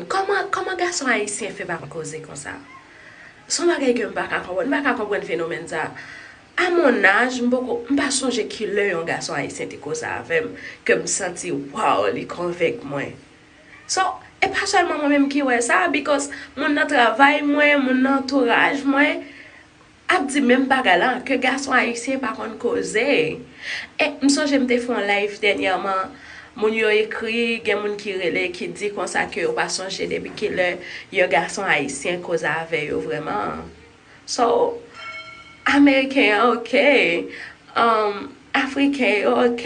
Kòman kòman gason ayisyen fè pa koze konsa? Son bagay ke m pa ka konprann. M pa ka konprann fenomèn sa. A mon âge, m poko m pa sonje ki lè yon gason ayisyen te konsa avè m ke m santi waw li konvenk mwen. So, e pa sèlman mwen menm ki wè sa because moun nan travay mwen, moun nan antouraj mwen. Ap di menm bagay la ke gason ayisyen pa konn koze e m sonje m te fè yon live dènyèman moun yo ekri gen moun ki rele ki di konsa ke yo pa sonje depi kilè yon gason ayisyen koze avè yo vrèman so ameriken an ok umm afriken yo ok.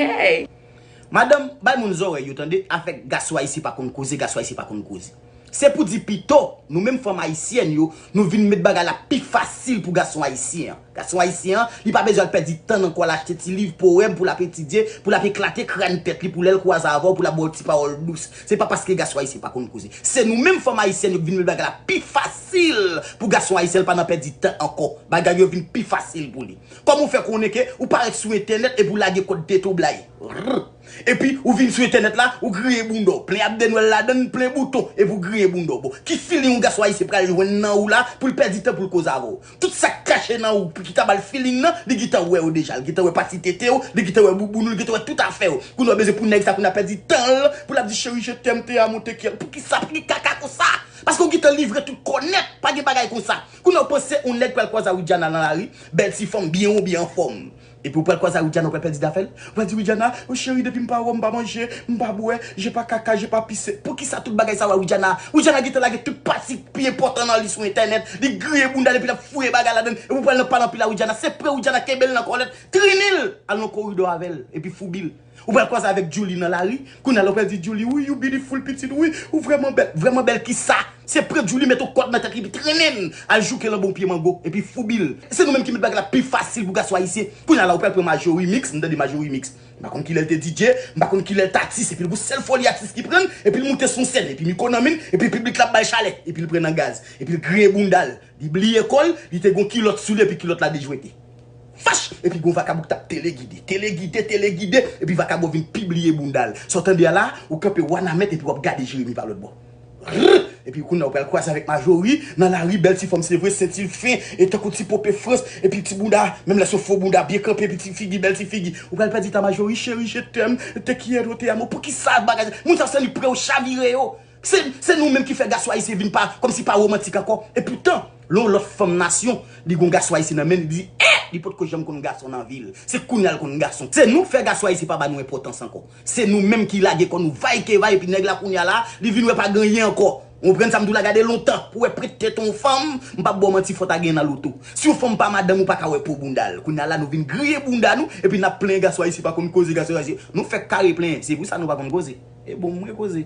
Madanm, bay moun zòrèy yo tande, afè gaso ayisyen pa konn koze, gaso ayisyen pa konn koze. Se pou di pito, nou menm fanm ayisyèn yo, nou vin met bagay la pi fasil pou gason ayisyen an. Gason ayisyen an, li pa bezwen al pèdi tan nan kò l achte ti liv powèm pou l ap etidye, pou l ap eklate kràn tèt li pou lè l kwaze avè w pou l ap ba w ti pawòl dous. Se pa paske gason ayisyen pa konn koze. Se nou menm fanm ayisyèn yo ki vin met bagay la pi fasil pou gason ayisyen l pa nan pèdi tan ankò. Bagay yo vin pi fasil pou li. Kòman ou fè konnen ke ou pa ret sou entènèt epi ou lage kòd tete w blayi? Rrr. Epi ou vin sou entènèt la, ou griyen bounda w, plen abde nwèl ladann, plen bouton, epi w griyen bounda w. Bon, ki feeling yon gason ayisyen pral jwenn nan ou la pou l pèdi tan pou l koze avè w? Tout sa k kache nan ou pou ki ta ba l feeling nan, li gentan wè yo deja. Li gentan wè pati tete w, li gentan wè bouboun ou, li gentan wè tout afè w. Kounye a w bezwen pou nèg sa kounye a pèdi tan l pou l ap di cheri je t'aime, te amo, te quiero. Pou ki sa? Pou ki kaka konsa? Paske w gentan livre tout kò nèt. Pa gen bagay konsa. Kounye a w panse yon nèg pral kwaze a Widiana nan lari, bèl ti fanm, byen wo, byen anfòm. Epi ou pral kwaze a Widiana ou pral pèdi dafèl? Ou pral di Widiana, oh chérie depi m pa wè w m pa manje, m pa bwè, je pa kaka, je pa pise. Poukisa tout bagay sa yo a Widiana? Widiana gentan lage tout pati ki pi enpòtan nan li sou entènèt, li griye bounda l epi l ap fouye bagay ladann epi ou pral nan pale anpil a Widiana, se pre Widiana kenbe l nan kòlèt, trennen l al nan koridò avè l epi foubi l. Ou pral kwaze avèk Djoulie nan lari, kounya la ou pral di Djoulie wi you beautiful pitit wi, ou vrèman bèl, vrèman bèl kisa? Se pran Djoulie met on kòd nan tèt li epi trenen al jouke l anba on pye mango epi foubi l. Se nou menm ki met bagay la pi fasil pou gason ayisyen. Kounya la ou pral pran Marjorie mix, m tande Marjorie mix, m pa konn kilè l te DJ, m pa konn kilè l t atis epi l pou sèl foli atis ki pran l epi l moute sou on sèn epi miko nan men l epi piblik la ap ba l chalè epi l pran nan gaz epi l griyen bounda l Li bliye kò l, li te gon kilòt sou li epi kilòt la dejwete. Fach! Epi gon vakabon ki t ap telegide, telegide, telegide, epi vakabon vin pi bliye bounda l. Sa w tande a la, ou kanpe wanament epi w ap gade Jeremi pa lòtbò. Rrr! Epi kounye a ou pral kwaze avèk Majori nan lari, bèl ti fòm se vre, senti l fen e tankou ti pope frans, epi ti bounda, menm lè se yon fo bounda, byen kanpe epi ti figi, bèl ti figi. Ou pral pèdi tan Majori, cheri je t'aime, te quiero, te amo, poukisa bagay sa, moun sa w santi prè w chavire yo. Se nou menm ki fè gason ayisyen vin pa kòm si pa romantik ankò e poutan lè yon lòt fanm nasyon li gen yon gason ayisyen nan men li li di eh li potko janm konn gason nan vi l se kounya l konn gason se nou k fè gason ayisyen pa ba nou enpòtans ankò se nou menm ki lage kò nou vay ke vay epi nèg la kounya la li vin wè pa gen anyen ankò ou konprann sa m di w la gade lontan pou wè prèt tete yon fanm m pap ba w manti fò ta genyen nan loto si yon fanm pa madanm ou pa ka wè po bounda l kounya la nou vin griye bounda nou epi n ap plenyen gason ayisyen pa konn koze gason ayisyen nou fèk kare plenyen se pou sa nou pa konn koze. E bon mwen koze.